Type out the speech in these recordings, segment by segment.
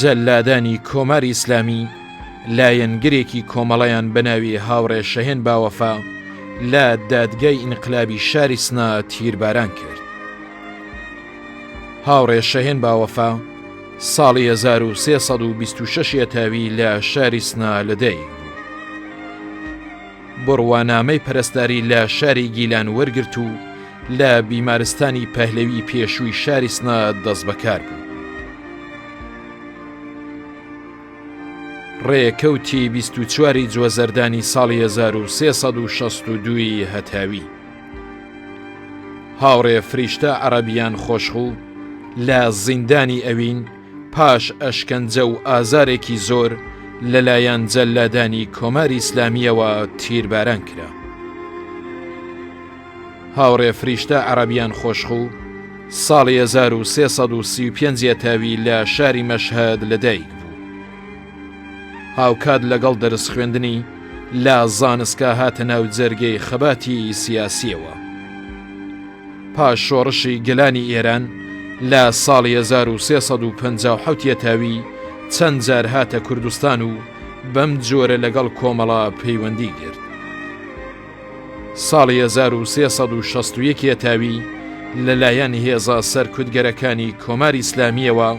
جەلادانی کۆماری ئیسلامی لایەنگرێکی کۆمەڵیان بە ناوی هاوڕێ شەهێن باوەفا لە دادگای ئینقلابی شاری سنا تیرباران کرد. هاوڕێ شەهێن باوەفا ساڵی 1326 تاوی لە شاری سنا لەدایک. بڕوانامەی پەرستاری لە شاری گیلان وەرگرت و لە بیمارستانی پەهلەوی پێشووی شاری سنە دەست بەکار بوو. ڕێکەوتی 24 جوەزەردانی ساڵی 1362 هەتاوی هاوڕێ فریشتە عەربیان خۆشخ و لە زیندانی ئەوین پاش ئەشکەنجە و ئازارێکی زۆر لەلایەن جەللادانی کۆماری ئیسلامییەوە تیرباران کرا. هاوڕێ فریشتە عەرەبیان خۆشخوو، ساڵی 1335 تاوی لە شاری مەشهد لەدایک بوو. هاوکات لەگەڵ دەرس خوێندنی لە زانستگا هاتە ناو جەرگەی خەباتی سیاسیەوە. پاش شۆڕشی گەلانی ئێران لە ساڵی 1350 یەتاوی چەند جار هاتە کوردستان و بەم جۆرە لەگەڵ کۆمەڵە پەیوەندی گرت. ساڵی 1361 یەتاوی لەلایەن هێزا سەرکوتگەرەکانی کۆماری ئیسلامیەوە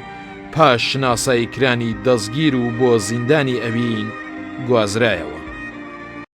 پاش شناسایی کرانی دەستگیر و بۆ زیندانی ئەوین گوازرایەوە.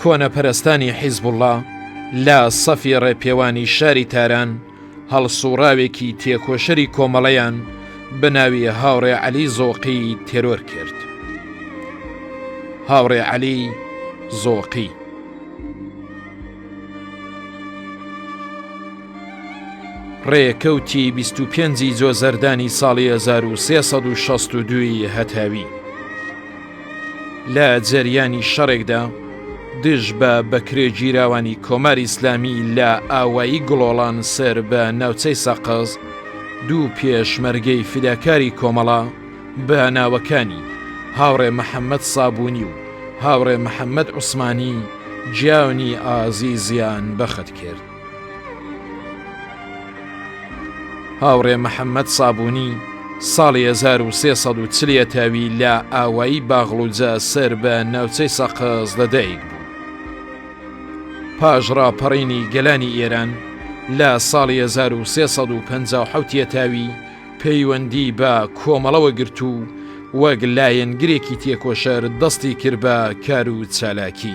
کۆنەپەرستانی حیزبوڵڵا لە سەفی ڕێپێوانی شاری تاران هەڵسوڕاوێکی تێکۆشەری کۆمەڵەیان بە ناوی هاوڕێ عەلی زۆقی تێرۆر کرد. هاوڕێ عەلی زۆقی ڕێکەوتی 25 جۆزەردانی ساڵی 1362 هەتاوی لە جەریانی شەڕێکدا دژ بە بەکرێگیراوانی کۆماری ئیسلامی لە ئاوایی گڵۆڵان سەر بە ناوچەی سەقز دوو پێشمەرگەی فیداکاری کۆمەڵە بە ناوەکانی هاوڕێ محەممەد سابوونی و هاوڕێ محەممەد عوسمانی جیاونی ئازیزیان بەخت کرد. هاوڕێ محەممەد سابوونی ساڵی 1340 یەتاوی لە ئاوایی باغڵوجە سەر بە ناوچەی سەقز لەدایک بوو. پاش ڕاپەڕینی گەلانی ئێران لە ساڵی 1350 یەتاوی پەیوەندی بە کۆمەڵەوە گرت و وەک لایەنگرێکی تێکۆشەر دەستی کرد بە کار و چالاکی.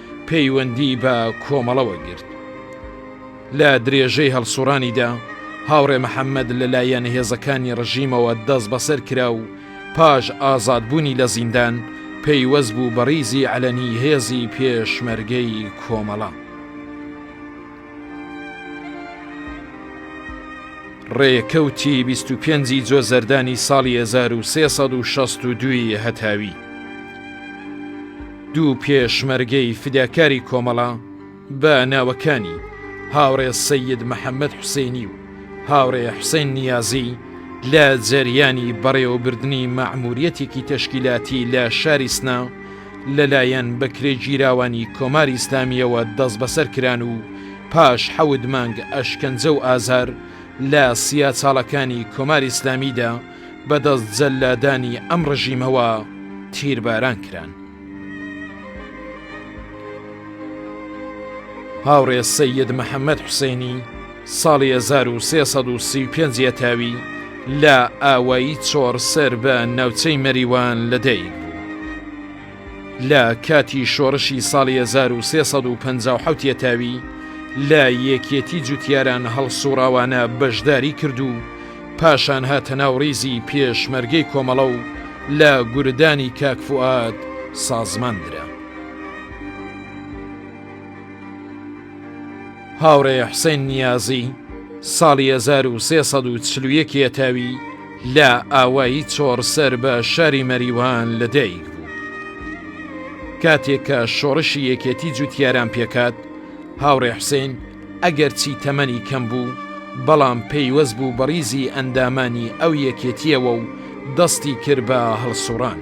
پەیوەندی بە کۆمەڵەوە گرت. لە درێژەی هەڵسوڕانیدا هاوڕێ محەممەد لەلایەن هێزەکانی ڕژیمەوە دەست بەسەر کرا و پاش ئازادبوونی لە زیندان پەیوەست بوو بە ڕیزی ئەلەنی هێزی پێشمەرگەی کۆمەڵە. ڕێکەوتی 25 جۆزەردانی ساڵی 1962 هەتاوی دوو پێشمەرگەی فیداکاری کۆمەڵە بە ناوەکانی هاوڕێ سەید محەممەد حوسینی و هاوڕێ حوسین نیازی لە جەریانی بەڕێوەبردننی مەعموریەتێکی تەشکیلاتی لە شاری سنا لەلایەن بەکرێ گیراوانی کۆماری ئیسلامیەوە دەست بەسەر کران و پاش حەود مانگ ئەشکەنجە و ئازار لە سیا چاڵەکانی کۆماری ئیسلامیدا بەدەست جەللادانی ئەم ڕژیمەوە تیرباران کران. هاوڕێ سید محەممەد حوسێنی ساڵی 1335 یەتاوی لە ئاوایی چۆڕ سەر بە ناوچەی مەریوان لەدەیک بوو. لە کاتی شۆڕشی ساڵی 1350 یەتاوی لە یەکێتی جوتیاران هەڵسوڕاوانە بەشداری کرد و پاشان هاتە ناو ڕیزی پێشمەرگەی کۆمەڵە و لە گوردانی کاک فواد سازمان درا. هاوڕێ حسین نیازی ساڵی 1340 یەتاوی لە ئاوایی چۆڕ سەر بە شاری مەریوان لە دایک بوو. کاتێک کە شۆڕشی یەکێتی جوتیاران پێکات هاوڕێ حسین ئەگەرچی تەمەنی کەم بوو، بەڵام پەیوەست بوو بە ڕیزی ئەندامانی ئەو یەکێتییەوە و دەستی کرد بە هەڵسوڕان.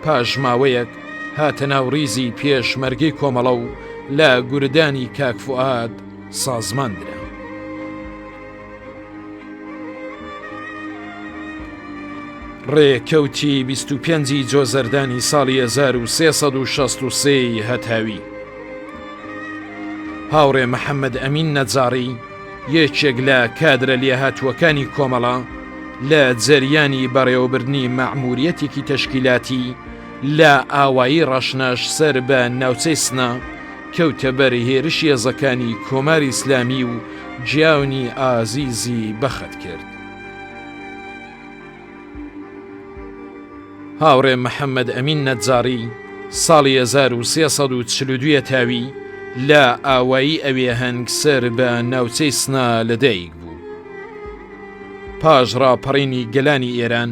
پاش ماوەیەک هاتە ناو ڕیزی پێشمەرگەی کۆمەڵە و لە گوردانی کاک فوئاد سازمان درا. ڕێکەوتی بیست و پێنجی جۆزەردانی ساڵی هەزار و سێ سەد و شەست و سێ ی هەتاوی هاوڕێ محەممەد ئەمین نەجاڕی یەکێک لە کادرە لێهاتووەکانی کۆمەڵە لە جەریانی بەڕێوەبردنی مەعموریەتێکی تەشکیلاتی لە ئاوایی ڕەشناش سەر بە ناوچەی سنە کەوتە بەر هێرشی هێزەکانی کۆماری ئیسلامی و جیاونی ئازیزی بەخت کرد. هاوڕێ محەممەد ئەمین نەجاری ساڵی 1340 تاوی لە ئاوایی ئەوێ هەنگ سەر بە ناوچەی سنا لەدایک بوو. پاش ڕاپەڕینی گەلانی ئێران،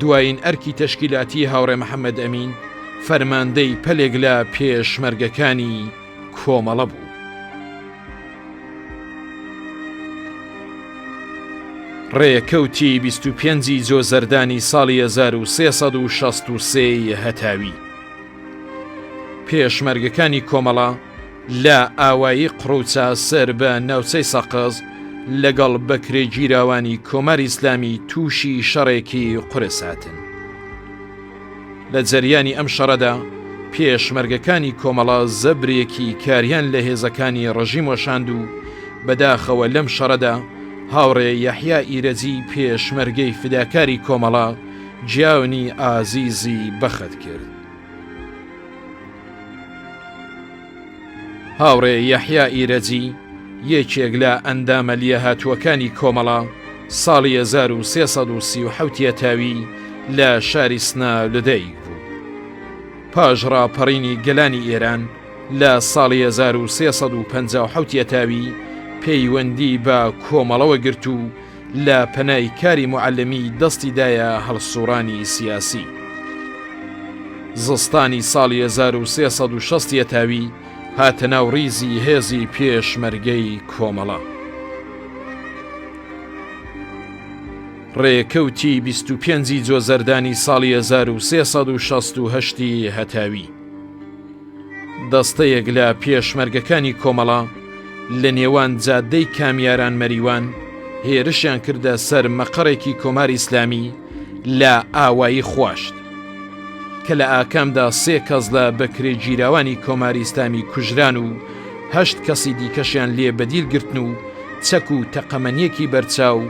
دوایین ئەرکی تەشکیلاتیی هاوڕێ محەممەد ئەمین فەرماندەی پەلێک لە پێشمەرگەکانی کۆمەڵە بوو. ڕێکەوتی بیست و پێنجی جۆزەردانی ساڵی هەزار و سێ سەد و شەست و سێی هەتاوی پێشمەرگەکانی کۆمەڵە لە ئاوایی قڕوچە سەر بە ناوچەی سەقز لەگەڵ بەکرێگیراوانی کۆماری ئیسلامی تووشی شەڕێکی قورس هاتن. لە جەریانی ئەم شەڕەدا پێشمەرگەکانی کۆمەڵە زەبرێکی کاریان لە هێزەکانی ڕژیم وەشاند و بەداخەوە لەم شەڕەدا هاوڕێ یەحیا ئیرەجی پێشمەرگەی فداکاری کۆمەڵە جیاونی ئازیزی بەخت کرد. هاوڕێ یەحیا ئیرەجی یەکێک لە ئەندامە لیەهاتووەکانی کۆمەڵە ساڵی 1337 یەتاوی لە شاری سنا لەدەیک بوو پاش ڕاپەڕینی گەلانی ئێران لە ساڵی 1350 یەتاوی پەیوەندی بە کۆمەڵەوە گرت و لە پەنای کاری موعەلەمی دەستی دایە هەڵسووڕانی سیاسی. زستانی ساڵی 1360 یەتاوی هاتە ناو ڕیزی هێزی پێشمەرگەی کۆمەڵە. ڕێکەوتی 25 جۆزەردانی ساڵی 1360 هەتاوی. دەستەیەک لە پێشمەرگەکانی کۆمەڵە لە نێوان جادەی کامیاران مەریوان هێرشیان کردە سەر مەقەڕێکی کۆماری ئیسلامی لە ئاوایی خواشت کە لە ئاکامدا سێ کەس لە بەکرێ گیراوانی کۆماری ئیسلامی کوژران و هەشت کەسی دیکەشیان لێ بەدیل گرتن و چەک و تەقەمەنیەکی بەرچاو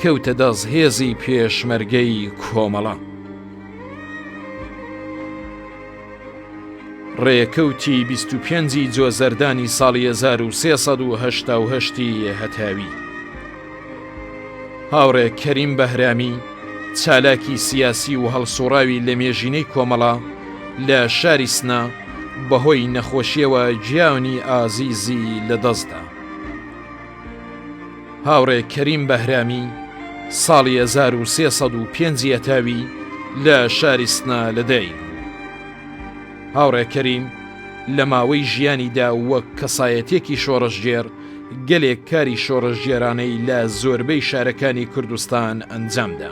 کەوتە دەست هێزی پێشمەرگەی کۆمەڵە. ڕێکەوتی بیست و پێنجی جۆزەردانی ساڵی هەزار و سێ سەد و هەشتا و هەشتی هەتاوی هاوڕێ کەریم بەهرامی چالاکی سیاسی و هەڵسوڕاوی لە مێژینەی کۆمەڵە لە شاری سنا بەهۆی نەخۆشیەوە گیانی ئازیزی لەدەستدا. هاوڕێ کەریم بەهرامی ساڵی 1305 یەتاوی لە شاری سنا لەدایک هاوڕێ کەریم لە ماوەی ژیانیدا وەک کەسایەتێکی شۆڕشگێر گەلێک کاری شۆڕشگێرانەی لە زۆربەی شارەکانی کوردستان ئەنجامدا.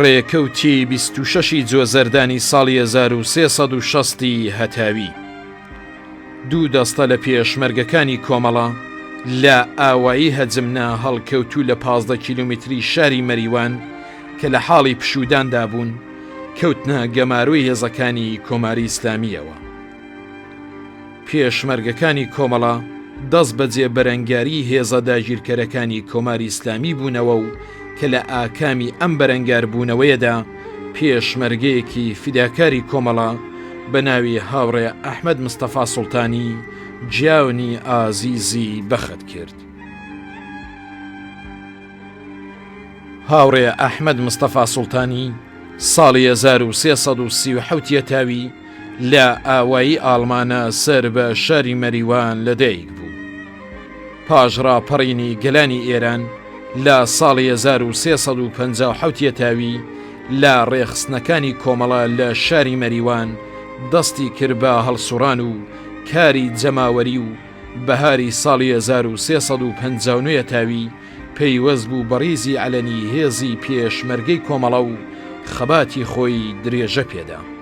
ڕێکەوتی بیست و شەشی جۆزەردانی ساڵی هەزار و سێ سەد و شەستی هەتاوی دوو دەستە لە پێشمەرگەکانی کۆمەڵە لە ئاوایی هەجمنا هەڵکەوتوو لە پازدە کیلومتری شاری مەریوان کە لە حاڵی پشوداندا بوون کەوتنە گەمارۆی هێزەکانی کۆماری ئیسلامیەوە پێشمەرگەکانی کۆمەڵە دەست بەجێ بەرەنگاری هێزە داگیرکەرەکانی کۆماری ئیسلامی بوونەوە و کە لە ئاکامی ئەم بەرەنگاربوونەوەیەدا پێشمەرگەیەکی فیداکاری کۆمەڵە بە ناوی هاوڕێ ئەحمەد مستەفا سوڵتانی گیانی ئازیزی بەخت کرد. هاوڕێ ئەحمەد مستەفا سوڵتانی ساڵی 1337 یەتاوی لە ئاوایی ئاڵمانە سەر بە شاری مەریوان لەدایک بوو. پاش ڕاپەڕینی گەلانی ئێران لە ساڵی 1350 یەتاوی لە ڕێخستنەکانی کۆمەڵە لە شاری مەریوان دەستی کرد بە هەڵسوڕان و کاری جەماوەری و بەهاری ساڵی 1359 یەتاوی پەیوەست بوو بە ڕیزی عەلەنی هێزی پێشمەرگەی کۆمەڵە و خەباتی خۆی درێژە پێدا.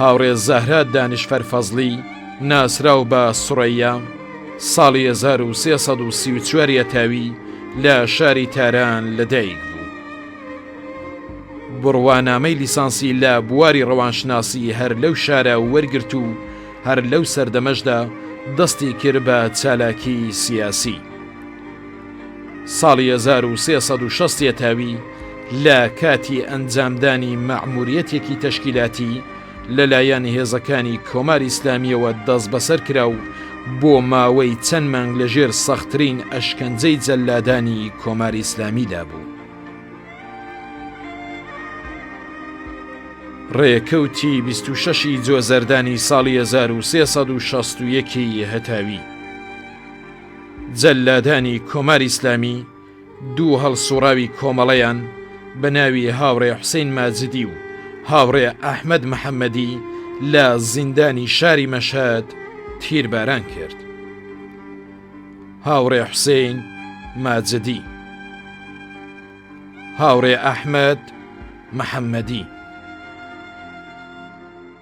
هاوڕێ زەهرا دانشفەر فەزلی ناسراو بە سڕەیە ساڵی 1334 یەتاوی لە شاری تاران لەدایک بوو بڕوانامەی لیسانسی لە بواری ڕەوانشناسی هەر لەو شارە وەرگرت و هەر لەو سەردەمەشدا دەستی کرد بە چالاکی سیاسی ساڵی هەزار و سێ سەد و شەست یەتاوی لە کاتی ئەنجامدانی مەعموریەتێکی تەشکیلاتی لەلایەن هێزەکانی کۆماری ئیسلامیەوە دەست بەسەر کرا و بۆ ماوەی چەند مانگ لە ژێر سەخترین ئەشکەنجەی جەلادانی کۆماری ئیسلامیدا بوو. ڕێکەوتی 26ی جۆزەردانی ساڵی 1361ی هەتاوی جەلادانی کۆماری ئیسلامی دوو هەڵسووڕاوی کۆمەڵەیان بە ناوی هاوڕێ حوسەین ماجدی و هاوڕێ ئەحمەد محەممەدی لە زیندانی شاری مەشهد تیرباران کرد. هاوڕێ حوسین ماجدی هاوڕێ ئەحمد محەممەدی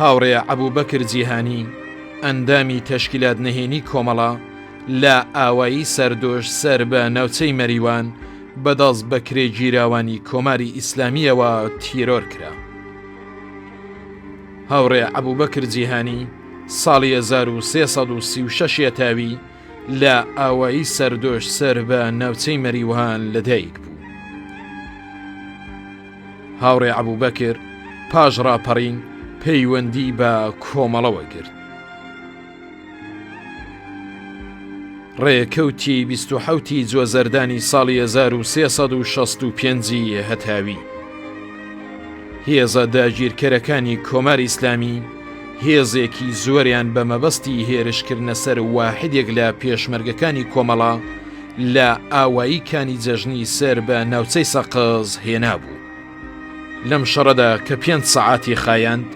هاوڕێ عەبوبەکر جیهانی، ئەندامی تەشکیلات نەهێنی کۆمەڵە، لە ئاوایی سەردۆش سەر بە ناوچەی مەریوان بە دەست بەکرێگیراوانی کۆماری ئیسلامییەوە تیرۆر کرا. هاوڕێ عەبوبەکر جیهانی ساڵی هەزار و سێ سەد و سی و شەش یەتاوی لە ئاوایی سەردۆش سەر بە ناوچەی مەریوان لەدایک بوو. هاوڕێ عەبوبەکر پاش ڕاپەڕین پەیوەندی بە کۆمەڵەوە کرد. ڕێکەوتی 1970 جۆزەردانی ساڵی 1965 هەتاوی هێزە داگیرکەرەکانی کۆمار ئیسلامی هێزێکی زۆریان بە مەبەستی هێرشکردنە سەر واحدێک لە پێشمەرگەکانی کۆمەڵە لە ئاوایی کانی جەژنی سەر بە ناوچەی سەقز هێنابوو. لەم شەڕەدا کە پێنج سەعاتی خایاند،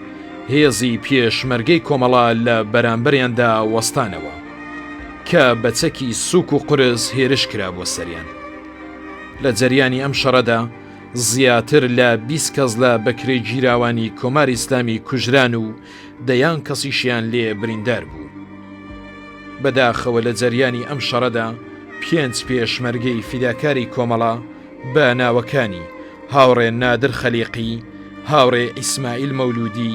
هێزی پێشمەرگەی کۆمەڵە لە بەرامبەریاندا وەستانەوە، کە بە چەکی سووک و قورس هێرش کرا بۆ سەریان. لە جەریانی ئەم شەڕەدا زیاتر لە بیست کەس لە بەکرێگیراوانی کۆماری ئیسلامی کوژران و، دەیان کەسیشیان لێ بریندار بوو. بەداخەوە لە جەریانی ئەم شەڕەدا پێنج پێشمەرگەی فیداکاری کۆمەڵە بە ناوەکانی، هاوڕێ نادر خەلیقی، هاوڕێ ئیسماعیل مەولوودی،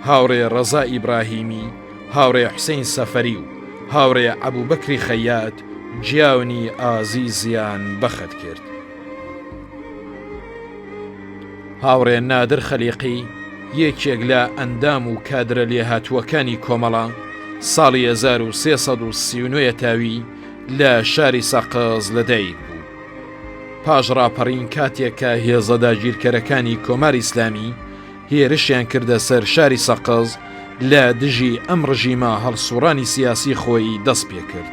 هاوڕێ ڕەزا ئیبراهیمی، هاوڕێ حوسەین سەفەری و هاوڕێ ئەبووبەکری خەیات، گیانی ئازیزیان بەخت کرد. هاوڕێ نادر خەلیقی یەکێک لە ئەندام و کادرە لێهاتووەکانی کۆمەڵە ساڵی 1939 تاوی لە شاری سەقز لەدایک بوو پاش ڕاپەڕین کاتێکە هێزەداگیرکەرەکانی کۆمار ئیسلامی هێرشیان کردە سەر شاری سەقز لە دژی ئەم ڕژیمە هەڵسوڕانی سیاسی خۆی دەست پێ کرد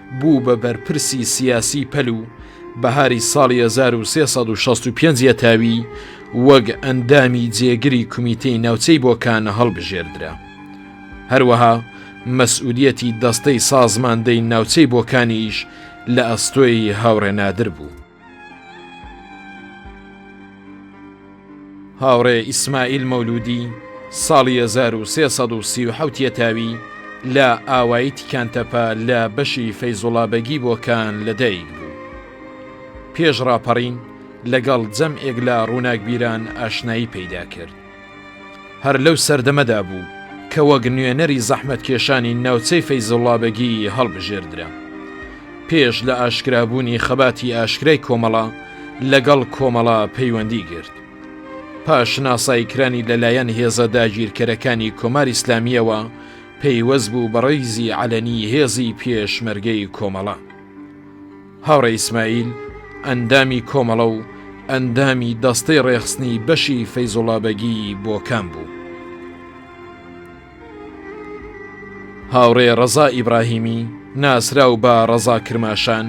بوو بە بەرپرسی سیاسی پەل و بەهاری ساڵی هەزار و سێ سەد و شەست و پێنج یەتاوی وەک ئەندامی جێگری کومیتەی ناوچەی بۆکان هەڵبژێردرا هەروەها مەسئولیەتی دەستەی سازماندەی ناوچەی بۆکانیش لە ئەستۆی هاوڕێ نادر بوو. هاوڕێ ئیسماعیل مەولودی ساڵی 1337 یەتاوی لە ئاوایی تیکانتەپە لە بەشی فەیزوڵابەگی بۆکان لەدایک بوو. پێش ڕاپەڕین لەگەڵ جەمعێک لە ڕووناکبیران ئاشنایی پەیدا کرد. هەر لەو سەردەمەدا بوو کە وەک نوێنەری زەحمەتکێشانی ناوچەی فەیزوڵڵا بەگیی هەڵبژێردرا. پێش لە ئاشکرابوونی خەباتی ئاشکرای کۆمەڵە لەگەڵ کۆمەڵە پەیوەندی گرت. پاش شناساییکرانی لەلایەن هێزە داگیرکەرەکانی کۆماری ئیسلامییەوە پەیوەست بوو بە ڕیزی عەلەنیی هێزی پێشمەرگەی کۆمەڵە. هاوڕێ ئیسماعیل ئەندامی کۆمەڵە و ئەندامی دەستەی ڕێخستنی بەشی فەیزوڵابەگی بۆکان بوو. هاوڕێ ڕەزا ئیبراهیمی ناسراو بە ڕەزا کرماشان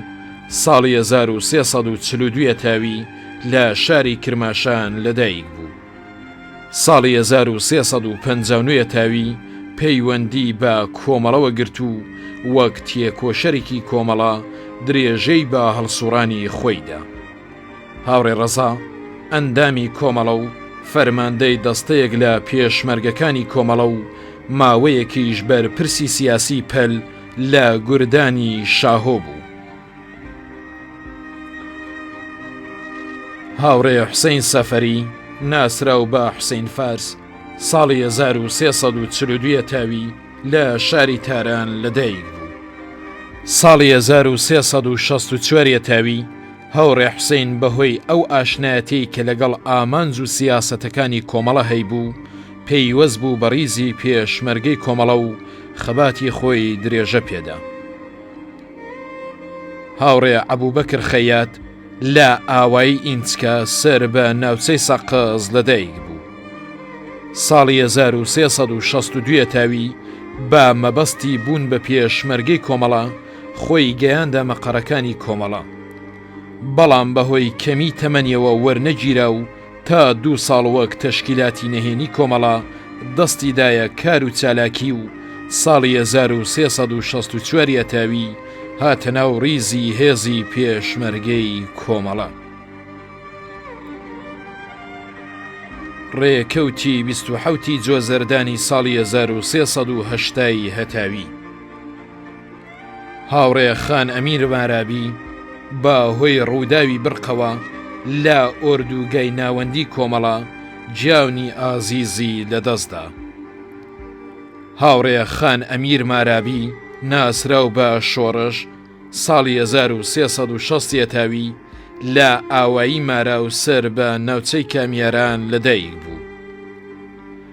ساڵی 1342 تاوی لە شاری کرماشان لەدایک بوو. ساڵی هەزار و سێ سەد و پەنجا و نۆ تاوی پەیوەندی بە کۆمەڵەوە گرت و وەک تێکۆشەرێکی کۆمەڵە درێژەی بە هەڵسووڕانی خۆی دا. هاوڕێ ڕەزا ئەندامی کۆمەڵە و فەرماندەی دەستەیەک لە پێشمەرگەکانی کۆمەڵە و ماوەیەکیش بەرپرسی سیاسی پەل لە گوردانی شاهۆ بوو. هاوڕێ حوسین سەفەری ناسراو بە حوسین فارس ساڵی 1940 تاوی لە شاری تاران لەدایک بوو ساڵی 1964 تاوی هاوڕێ حوسین بەهۆی ئەو ئاشنایەتی کە لەگەڵ ئامانج و سیاسەتەکانی کۆمەڵە هەیبوو پەیوەست بوو بە ڕیزی پێشمەرگەی کۆمەڵە و خەباتی خۆی درێژە پێدا. هاوڕێ عەبوبەکر خەیات لە ئاوایی ئینچکە سەر بە ناوچەی سەقز لەدایک بوو. ساڵی 1962 تاوی بە مەبەستی بوون بە پێشمەرگەی کۆمەڵە خۆی گەیاندە مەقەرەکانی کۆمەڵە. بەڵام بەهۆی کەمی تەمەنیەوە وەرنەگیرا و تا دوو ساڵ وەک تەشکیلاتی نەهێنی کۆمەڵە دەستی دایە کار و چالاکی و ساڵی هەزار و سێ سەد و شەست و چوار یەتاوی هاتە ناو ڕیزی هێزی پێشمەرگەی کۆمەڵە. ڕێکەوتی بیست و حەوتی جۆزەردانی ساڵی هەزار و سێ سەد و هەشتا ی هەتاوی. هاوڕێ خان ئەمیر بارابی بە هۆی ڕووداوی برقەوە لە ئۆردوگای ناوەندی کۆمەڵە گیانی ئازیزی لەدەستدا. هاوڕێ خان ئەمیر مارابی ناسراو بە شۆڕش ساڵی 1360 یەتاوی لە ئاوایی ماراو سەر بە ناوچەی کامیاران لەدایک بوو.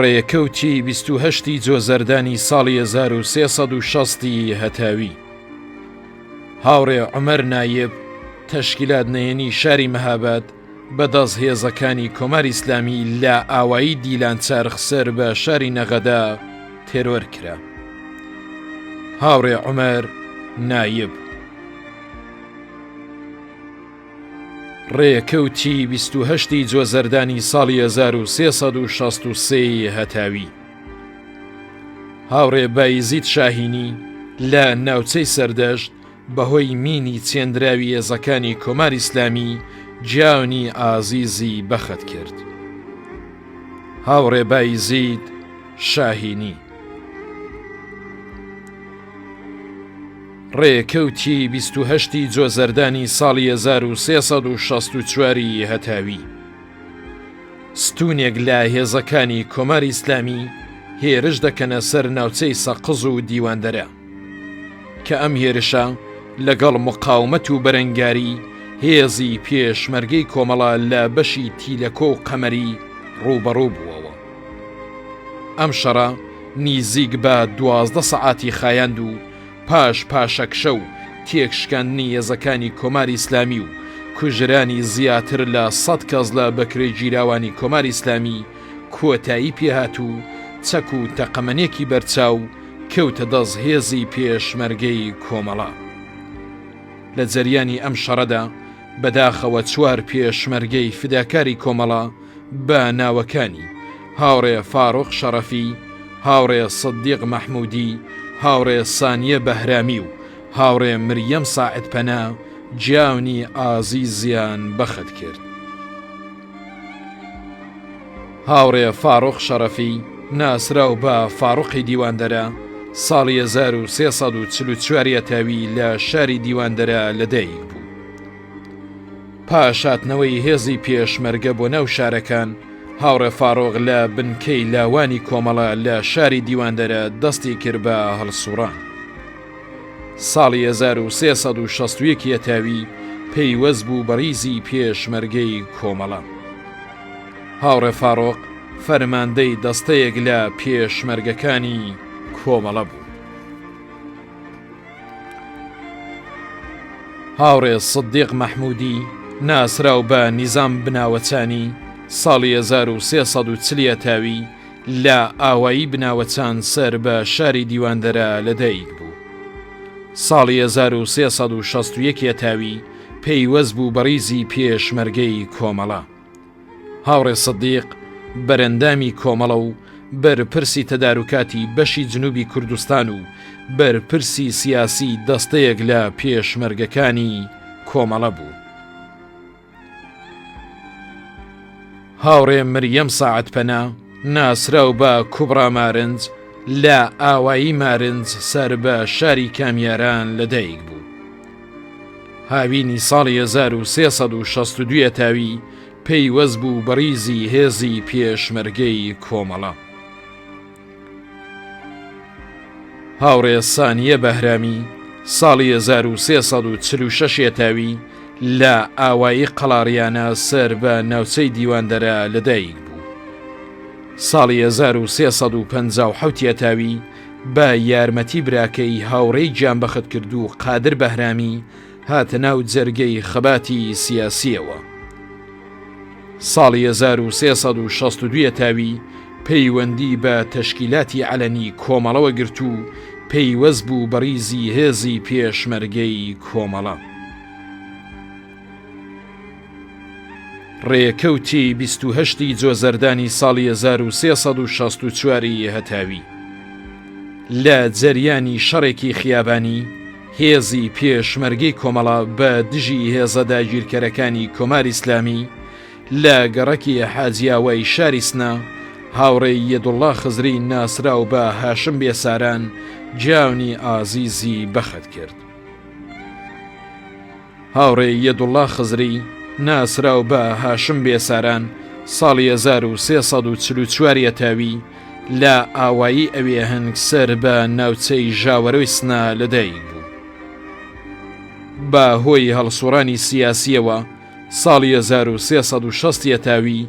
ڕێکەوتی بیست و هەشتی جۆزەردانی ساڵی هەزار و سێ سەد و شەستی هەتاوی هاوڕێ عمەر نایب تەشکیلات نەیەنی شاری مەهاباد بەدەست هێزەکانی کۆمار ئیسلامی لە ئاوایی دیلان چارخسەر بە شاری نەغەدا تێرۆر کرا هاوڕێ عمەر نایب ڕێکەوتی بیست و هەشتی جۆزەردانی ساڵی هەزار و سێ سەد و شەست و سێ هەتاوی هاوڕێ بایزید شاهینی لە ناوچەی سەردەشت بەهۆی مینی چێندراوی هێزەکانی کۆمار ئیسلامی جیاونی ئازیزی بەخت کرد هاوڕێ بایزید شاهینی ڕێکەوتی بیست و هەشت ی جۆزەردانی ساڵی هەزار و سێ سەد و شەست و چوار ی هەتاوی ستوونێک لە هێزەکانی کۆماری ئیسلامی هێرش دەکەنە سەر ناوچەی سەقز و دیواندەرە کە ئەم هێرشە لەگەڵ مقاومەت و بەرەنگاری هێزی پێشمەرگەی کۆمەڵە لە بەشی تیلەکۆ و قەمەری ڕووبەڕوو بووەوە ئەم شەڕە نیزیک بە دوازدە سەعاتی خایاند و پاش پاشەکشە و تێکشکاندنی هێزەکانی کۆماری ئیسلامی و کوژرانی زیاتر لە سەد کەس لە بەکرێگیراوانی کۆماری ئیسلامی کۆتایی پێهات و چەک و تەقەمەنێکی بەرچاو کەوتە دەست هێزی پێشمەرگەی کۆمەڵە. لە جەریانی ئەم شەڕەدا بەداخەوە چوار پێشمەرگەی فیداکاری کۆمەڵە، بە ناوەکانی، هاوڕێ فاروق شەڕەفی، هاوڕێ سدیق مەحمودی، هاوڕێ سانیە بەهرامی و هاوڕێ مریەم ساعد پەنا جیاونی ئازیزیان بەخت کرد. هاوڕێ فاروق شەڕەفی ناسراو بە فاروقی دیواندەرە ساڵی 1344 یەتاوی لە شاری دیواندەرە لەدایک بوو. پاش هاتنەوەی هێزی پێشمەرگە بۆ ناو شارەکان هاوڕێ فاڕۆغ لە بنکەی لاوانی کۆمەڵە لە شاری دیواندەرە دەستی کرد بە هەڵسوڕان ساڵی 1960 یەتاوی پەیوەست بوو بەڕیزی پێشمەرگەی کۆمەڵە هاوڕێ فاڕۆق فەرماندەی دەستەیەک لە پێشمەرگەکانی کۆمەڵە بوو هاوڕێ سدیق مەحمودی ناسراو بە نیزام بناوەچانی ساڵی 1340 تاوی لە ئاوایی بناوەچان سەر بە شاری دیواندەرە لەدایک بوو. ساڵی 1360 تاوی پەیوەست بوو بەڕیزی پێشمەرگەی کۆمەڵە. هاوڕێ سدیق بەرەندامی کۆمەڵە و بەرپرسی تەداروکاتی بەشی جنوبی کوردستان و بەرپرسی سیاسی دەستەیەک لە پێشمەرگەکانی کۆمەڵە بوو. هاوڕێ مریەم ساعت پەنا ناسراو بە کوبڕا مارنج لە ئاوایی مارنج سەر بە شاری کامیاران لەدایک بوو. هاوینی ساڵی 1362 یەتاوی پەیوەست بوو بەڕیزی هێزی پێشمەرگەی کۆمەڵە. هاوڕێ سانیە بەهرامی ساڵی 1346 یەتاوی لە ئاوایی قەڵاریانە سەر بە ناوچەی دیواندەرە لەدایک بوو. ساڵی 1350 یەتاوی بە یارمەتی براکەی هاوڕێی گیانبەخت کرد و قادر بەهرامی هاتە ناو جەرگەی خەباتی سیاسیەوە. ساڵی 1362 تاوی پەیوەندی بە تەشکیلاتی عەلەنی کۆمەڵەوە گرت و پەیوەست بوو بە ڕیزی هێزی پێشمەرگەی کۆمەڵە. ڕێکەوتی بیست و هەشتی جۆزەردانی ساڵی هەزار و سێ سەد و شەست و چواری یە هەتاوی لە جەریانی شەڕێکی خیابانی هێزی پێشمەرگەی کۆمەڵە بە دژی هێزە داگیرکەرەکانی کۆماری ئیسلامی لە گەڕەکی حاجیاوای شاری سنە هاوڕێ یەدوڵا خزری ناسراو بە هاشم بێساران جیاونی ئازیزی بەخت کرد. هاوڕێ یەدوڵڵا خزری ناسراو بە هاشم بێساران ساڵی هەزار و سێ سەد و چل و چوار یەتاوی لە ئاوایی ئەوێهەنگ سەر بە ناوچەی ژاوەرۆی سنە لەدایک بوو. بە هۆی هەڵسوڕانی سیاسیەوە ساڵی هەزار و سێ سەد و شەست یەتاوی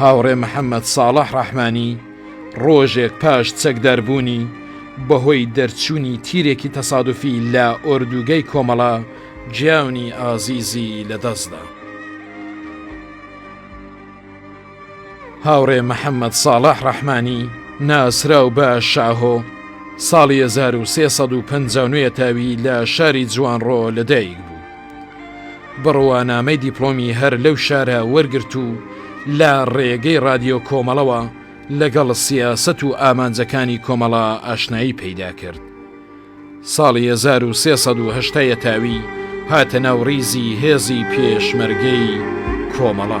هاوڕێ محەممەد ساڵح ڕەحمانی ڕۆژێک پاش چەکداربوونی بەهۆی دەرچوونی تیرێکی تەسادفی لە ئۆردوگەی کۆمەڵە جیاونی ئازیزی لەدەستدا. هاوڕێ محەممەد ساڵح ڕەحمانی ناسراو بە شاهۆ ساڵی 1950 تاوی لە شاری جوانڕۆ لەدایک بوو. بڕوانامەی دیپڵۆمی هەر لەو شارە وەرگرت و لە ڕێگەی ڕادیۆ کۆمەڵەوە لەگەڵ سیاسەت و ئامانجەکانی کۆمەڵە ئاشنایی پەیدا کرد. ساڵی 1370 یەتاوی هاتە ناو ڕیزی هێزی پێشمەرگەی کۆمەڵە.